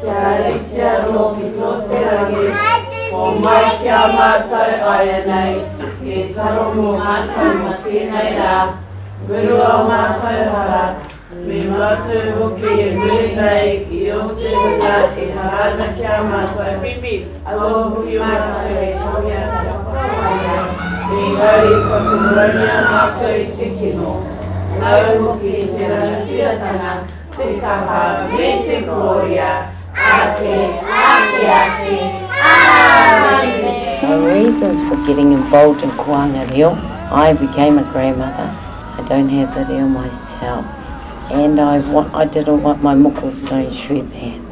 Kia ritia nohi to te rangi, homai ki a matou aianei, e taro mo matou ma tenei ra, muru o matou hara, me matou hoki e muri nei i o te hunga e hara ana ki a matou, alo hoki matou e tohea kia whakawaia, engari kua koronia matou i te kino, nau hoki i te ranatiratanga, Te Tama me te Korea, ake, ake, ake, Āmine! My reasons for getting involved in Koanga Reo, I became a grandmother, I don't have the reo myself, and I did all what my moko was doing through that.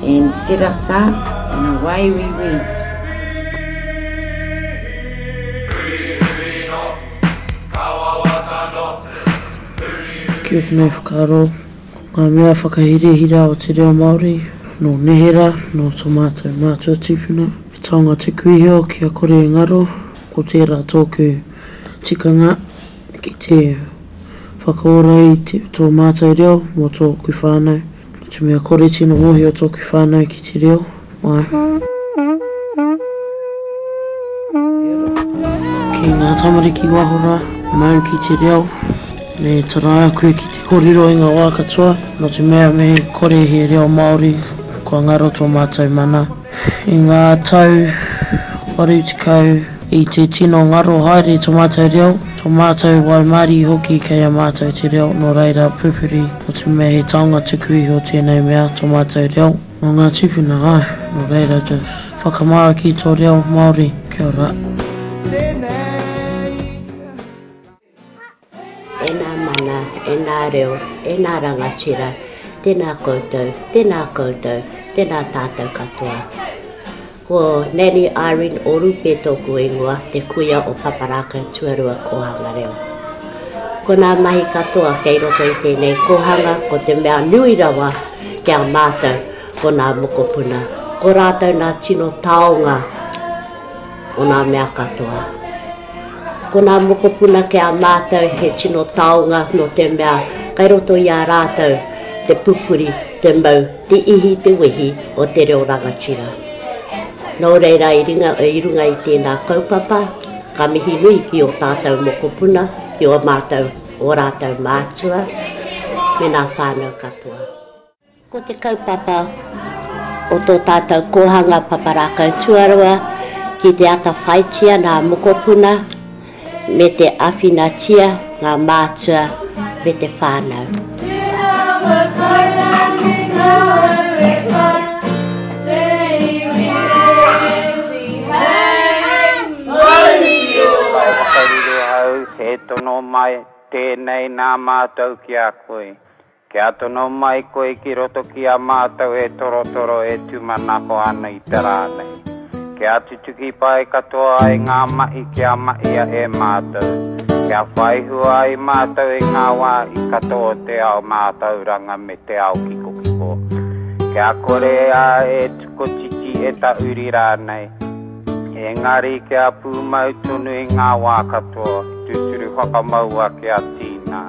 And set up sa, and away we went. Kia ora me whakaro, ngā mea whakahirahira o te reo Māori, nō neherā, nō tō mātou mātua tīpuna, he taonga te kuihio kia kore e ngaro, ko tērā tōku tikanga ki te whakaora i tō mātou reo mō tōku whānau. Te mea kore tino mohio toku whanau ki te reo Maori. Ki nga tamariki waho ra, mau ki te reo, me taraa koe ki te korero i nga wa katoa, no te mea me kore he reo Maori kua ngaro to matou mana. I ngā tau 80 i te tino ngaro haere tō mātou reo, tō mātou waimarie hoki kei a mātou te reo nō reira pupuri o te mea he taonga tuku iho tēnei mea tō mātou reo nō ngā tīpuna āe nō reira to whakamāra ki tō reo Māori kia ora. E nā mana, e nā reo, e nā rangatira, tēnā koutou, tēnā koutou, tēnā tātou katoa. Ko Nanny Irene Orupe tōku ingoa, te kuia o Papa Rākau Tuarua Kōhanga Reo. Ko nā mahi katoa kei roto i tēnei kōhanga ko te mea nui rawa ki a mātou ko nā mokopuna, ko rātou nā tino taonga, o ngā mea katoa. Ko ngā mokopuna ki a mātou he tino taonga nō te mea kei roto i a rātou te pupuri, te mau, te ihi, te wehi o te reo rangatira. Nō reira i ringa, i runga i tēnā kaupapa, ka mihi nui ki o tātou mokopuna, ki o mātou, o rātou mātua, me nā whānau katoa. Ko te kaupapa o tō tātou Kōhanga Papa Rākau Tuarua ki te atawhaitia ngā mokopuna me te āwhinatia ngā mātua me te whānau. Whakariro au, he tono mai tēnei nā mātou ki a koe. Kia tono mai koe ki roto ki a mātou e torotoro e tūmanako ana i te rā nei. Kia tutuki pai katoa ai ngā mahi kia mahia e mātou, kia whai hua ai mātou i ngā wāhi katoa o te ao mātauranga me te ao kikokiko. Kia kore ā e tukotiti e tahuri rānei, engari kia pūmau tonu i ngā wā katoa, tūturu whakamaua kia tīna.